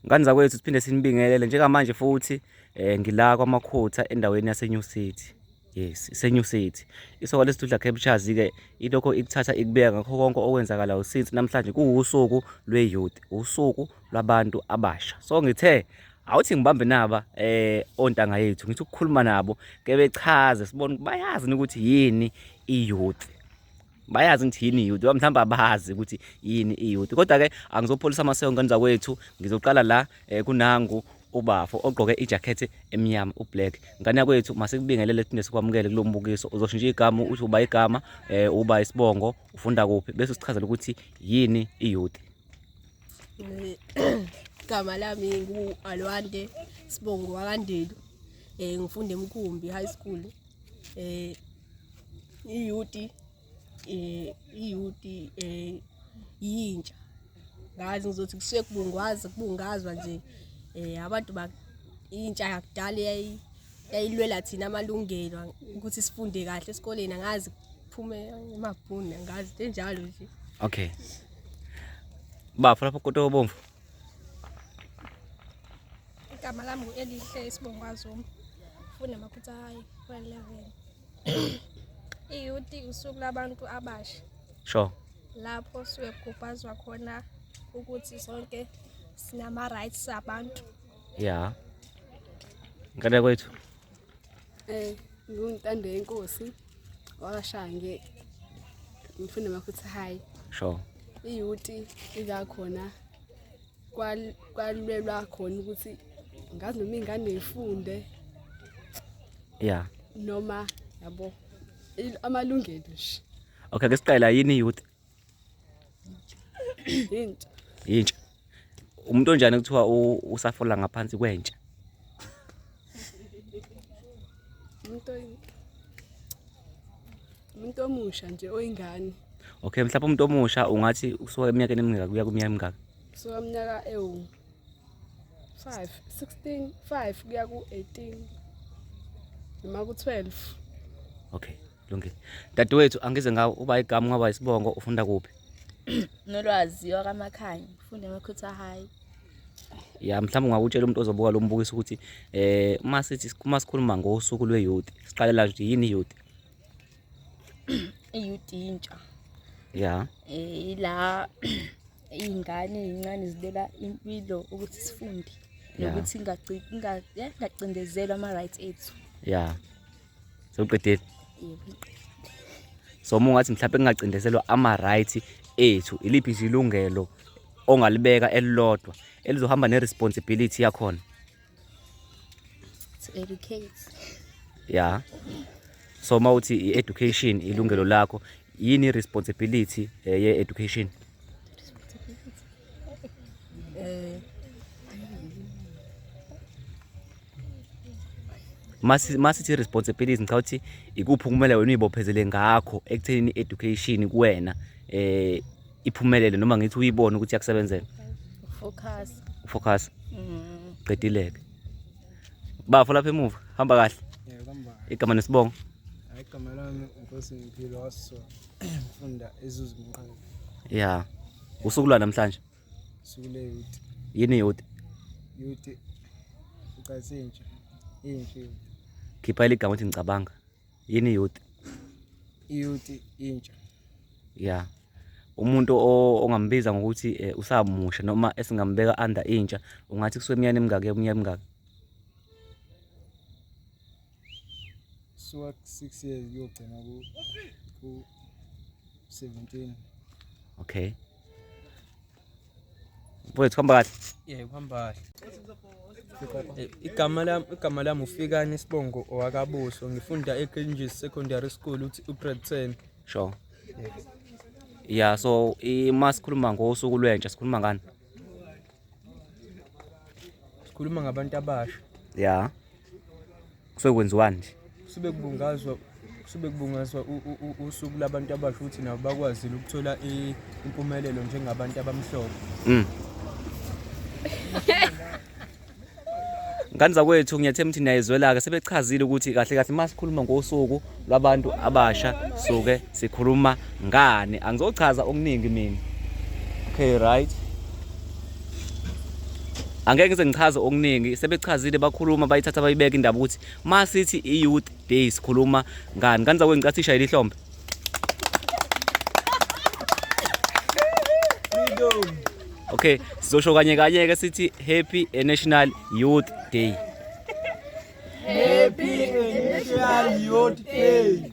Ngane zakwethu siphinde sinibingelele njengamanje futhi eh ngila kwamakhotha endaweni yase New City yes ise New City isoka lesidudla captures ke ilokho ikuthatha ikubeka ngakho konke okwenzakalayo since namhlanje kuwusuku lwe youth usuku lwabantu abasha so ngithe awuthi ngibambe naba eh ontanga yethu ngithi ukukhuluma nabo ke bechaze sibone bayazi ukuthi yini i youth bayazi ngithi yini youth mhlawumbe abazi ukuthi yini iyouth kodwa ke angizopholisa amaseko ngane zakwethu ngizoqala la eh, kunangu ubafo ogqoke ijakhethi emnyama ublack ngane yakwethu masikubingelele thina sikwamukele kulo mbukiso uzoshintsha igama uthi uba igama eh uba isibongo ufunda kuphi bese usichazela ukuthi yini iyouth igama lami ngu-alwande sibongo wakandelu um ngifunda emkhumbi high school um iyuti eh iyuti eh yintsha ngazi ngizothi kusuke kubungwaza kubungazwa nje eh abantu ba intsha yakudala yayi yayilwela thina amalungelo ukuthi sifunde kahle esikoleni angazi kuphume emabhuni angazi enjalo nje okay bafo lapho kodwa obomvu igama lami ngu-elihle isibongwazuma funda amaphutha hayi kwa-eleven iyuti usuku labantu abasha sure lapho suke kugubhazwa khona ukuthi sonke sinama-rights abantu ya ngane kwethu um ngingutando yenkosi wakashange ngifunda amaphutha hayi sure iyuti izakhona kwalwelwa khona ukuthi ngazi noma ingane ifunde ya noma yabo amalungelo nje okay ke siqala yini youth yintsha yintsha umuntu onjani kuthiwa usafola ngaphansi kwentsha umuntu umuntu omusha nje oyingane okay mhlawumbe umuntu omusha ungathi usuka eminyakeni emingaka kuya kuminyaka emingaka usuka iminyaka ewu 5 16 5 kuya ku-18 noma ku-12 okay lungile dadewethu angize ngawo uba igama ungaba isibongo ufunda kuphi nolwazi wakamakhanya ufunda emakhutha high ya mhlawumbe ungakutshela umuntu ozobuka lo mbukiso ukuthi eh uma sithi uma sikhuluma ngosuku lwe-youth siqalela nje yini i-youth i-youth intsha ya eh, ila iy'ngane ey'ncane zilela impilo ukuthi sifunde nokuthi eh, ingacindezelwa ama-rights ethu ya sewuqedile so uma ungathi mhlawumbe kungacindezelwa ama-right ethu iliphi nje ilungelo ongalibeka elilodwa elizohamba ne-responsibility yakhona to educate ya so uma uthi i-education ilungelo lakho yini i-responsibility eh, ye-education masithi responsibility ngicabanga ukuthi ikuphi kumele wena uyibophezele ngakho ekuthenini education kuwena eh iphumelele noma ngithi uyibone ukuthi yakusebenzela focus focus mm. qedileke bafo lapha emuva hamba kahle igama nesibongo igama lami inkosi impilo waso funda ezuzimqhawe ya usukulwa namhlanje Sule youth. Yini youth? Youth. Ucathi intsha. Intsha youth. Khipha iligama uthi ngicabanga. Yini youth? Youth intsha. Yeah. umuntu ongambiza ngokuthi eh, usamusha noma esingambeka under intsha ungathi kusuke emnyane emingaki emnyane emingaki suka ku-six years kuyogcina ku-seventeen okay mfowethu kuhamba kahle ye kuhamba kahle igama lami igama lami ufikani isibongo owakabuso ngifunda eGranges Secondary School uthi ugrade 10 sure yeah so uma sikhuluma ngosuku lwentsha sikhuluma ngani sikhuluma ngabantu abasha ya kusuke kwenziwani nje kusuke kubungazwa kusuke kubungazwa usuku labantu abasha ukuthi nabo bakwazile ukuthola impumelelo njengabantu abamhlophe mm. ngane zakwethu ngiyathemba ukuthi niyayizwela-ke sebechazile ukuthi kahle kahle uma sikhuluma ngosuku lwabantu abasha suke sikhuluma ngani angizochaza okuningi mina okay right angeke ngize ngichaze okuningi sebechazile bakhuluma bayithatha bayibeka indaba ukuthi uma sithi i-youth day sikhuluma ngani ngani zakwengicathi ishayile ihlombe okay sizosho kanye kanye ke sithi happy national youth day happy national youth day